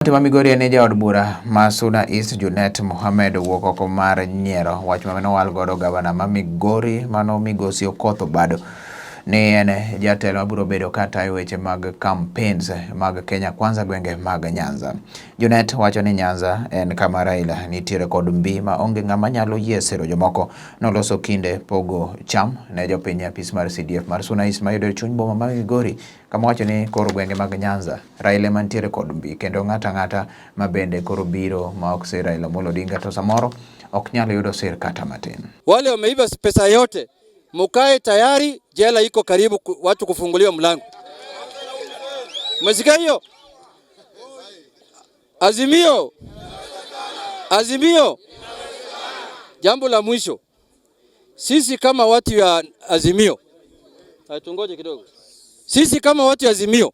Kaunti ma Migori en jaod bura ma Suna East Junet Mohamed owuok oko mar nyiero. Wach ma nowal godo gavana ma Migori mano Migosi Okoth Obado ni en jatelo mabiro bedo ka tayo weche mag campaigns mag Kenya Kwanza gwenge mag Nyanza. Junet wacho ni Nyanza en kama Raila nitiere kod mbi ma onge ng'ama nyalo yie siro jomoko noloso kinde pogo cham ne jopiny apis mar CDF mar Suna East mayudore chuny boma ma Migori kama wacho ni koro gwenge mag Nyanza Raila ema nitiere kod mbi kendo ng'ata ng'ata ma bende koro biro ma ok sir Raila Amolo Odinga to samoro ok nyal yudo sir kata matin. Wale wameiba pesa yote, mukae tayari, jela iko karibu, watu kufunguliwa mlango. Umesikia hiyo? Azimio, Azimio. Jambo la mwisho, sisi kama watu ya Azimio, tungoje kidogo, sisi kama watu ya Azimio